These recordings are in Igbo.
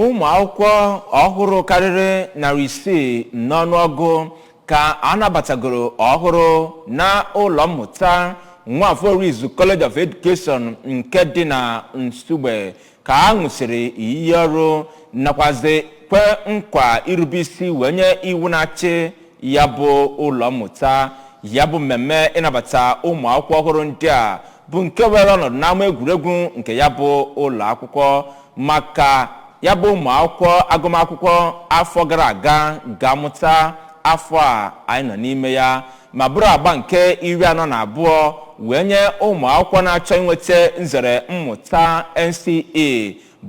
ụmụ akwụkwọ ọhụrụ karịrị narị isii n'ọnụọgụ ka a nabatagoro ọhụrụ na ụlọ mmụta nwafọ orizu college of education nke dị na nsugbe ka a ṅụsịrị iyi ọrụ nakwazi kwe nkwa irube isi wee nye iwu na-achị ya bụ ụlọ mmụta ya bụ mmemme ịnabata ụmụ akwụkwọ ọhụrụ ndị a bụ nke were ọnọdụ n'ama egwuregwu nke ya bụ ụlọ akwụkwọ maka ya bụ ụmụ akwụkwọ agụmakwụkwọ afọ gara aga ga-amụta afọ a anyị nọ n'ime ya ma bụrụ agba nke iri anọ na abụọ wee nye ụmụ akwụkwọ na-achọ inweta nzere mmụta NCE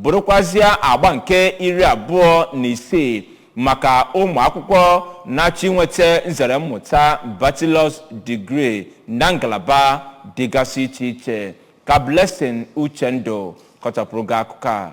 bụrụkwazịa agba nke iri abụọ na isii maka ụmụ akwụkwọ na-achọ inweta nzere mmụta bachelor's degree na ngalaba dịgasị iche iche ka Blessing Uchendụ kọchapụrụ gị akụkọ a.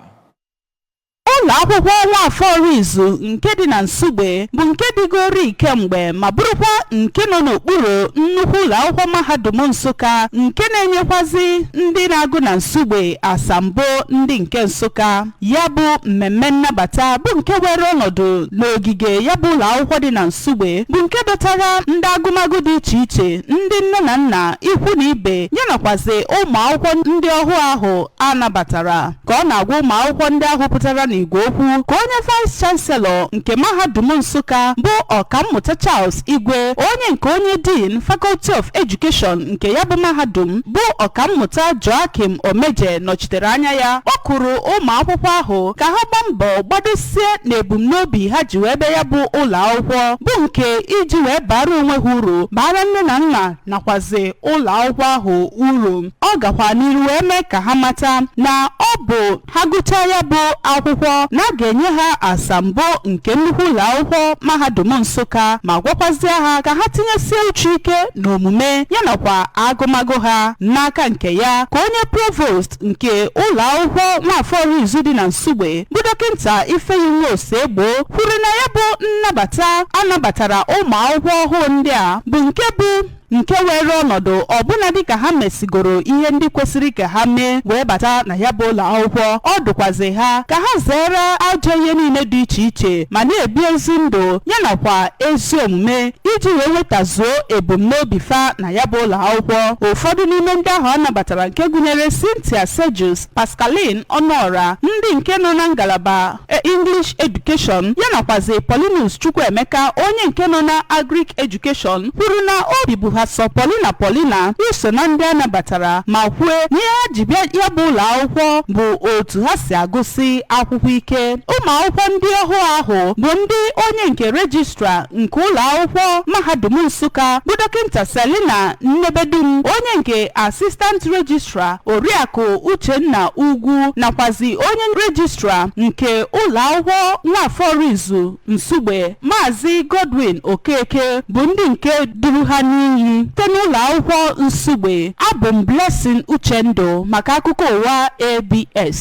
Ụlọ akwụkwọ Nwafọ Orizu nke dị na Nsugbe bụ nke dịgorii kemgbe ma bụrụkwa nke nọ n'okpuru nnukwu ụlọ akwụkwọ mahadum Nsụka nke na-enyekwazi ndị na-agụ na Nsugbe asambo ndị nke Nsụka. Ya bụ mmemme nnabata bụ nke were ọnọdụ n'ogige ya bụ ụlọ akwụkwọ dị na Nsugbe bụ nke dọtara ndị agụmagụ dị iche iche ndị nne na nna ikwu na ibe ya nakwazi ụmụ akwụkwọ ndị ọhụụ ahụ a nabatara ka ọ na-agwa ụmụ akwụkwọ ndị ahụ pụtara n'igwe okwu ka onye vice chancellor nke mahadum Nsụka bụ ọkammụta Charles Igwe, onye nke onye Dean, Faculty of Education nke ya bụ mahadum, bụ Ọkammụta Joachim Omeje nọchitere anya ya, kpọkuru ụmụ akwụkwọ ahụ ka ha gbaa mbọ gbadosie n'ebumnobi ha ji wee bịa ya bụ ụlọ akwụkwọ, bụ nke iji wee baara onwe ha uru, baara nne na nna nakwazi ụlọ akwụkwọ ahụ uru. Ọ gakwa n'iru wee mee ka ha mata na ọ bụ ha gụchaa ya bụ akwụkwọ na a ga-enye ha asambo nke nnukwu ụlọ akwụkwọ mahadum Nsụka ma gwakwazie ha ka ha tinyesie uche ike n'omume ya nakwa agụmagụ ha n'aka nke ya ka onye provost nke ụlọ akwụkwọ nwafọ Orizu dị na Nsugbe bụ dọkịnta Ifeyinwa Osegbo kwuru na ya bụ nnabata a nabatara ụmụ akwụkwọ ọhụụ ndị a bụ nke bụ nke weere ọnọdụ ọbụna dịka ha mesigoro ihe ndị kwesịrị ka ha mee wee bata na ya bụ ụlọ akwụkwọ ọ dụkwazi ha ka ha zere ajọ ihe niile dị iche iche ma na-ebi ezi ndụ ya nakwa ezi omume iji wee nwetazuo ebumnobi fa na ya bụ ụlọ akwụkwọ ụfọdụ n'ime ndị ahụ a nabatara nke gụnyere Cynthia Sejus Pascaline Ọnụọra ndị nke nọ na ngalaba e, English Education ya nakwazi Paulinus Chukwuemeka onye nke nọ na Agric Education kwuru na obi bụ ha sọ polina polina iso na ndị a nabatara ma kwue na ihe ha ji bịa ya bụ ụlọ akwụkwọ bụ otu ha si agụsị akwụkwọ ike ụmụ akwụkwọ ndị ọhụụ ahụ bụ ndị onye nke rejistra nke ụlọ akwụkwọ mahadum Nsụka bụ dọkịnta Selina Nnebedum onye nke assistant rejistra Oriakụ Uchenna Ugwu nakwazi onye rejistra nke ụlọakwụkwọ Nwafọr Orizu Nsugbe Maazị Godwin Okeke bụ ndị nke duru ha n'iyi site n'ụlọakwụkwọ Nsugbe. Abụ m Blessing Uchendụ maka akụkọ ụwa ABS.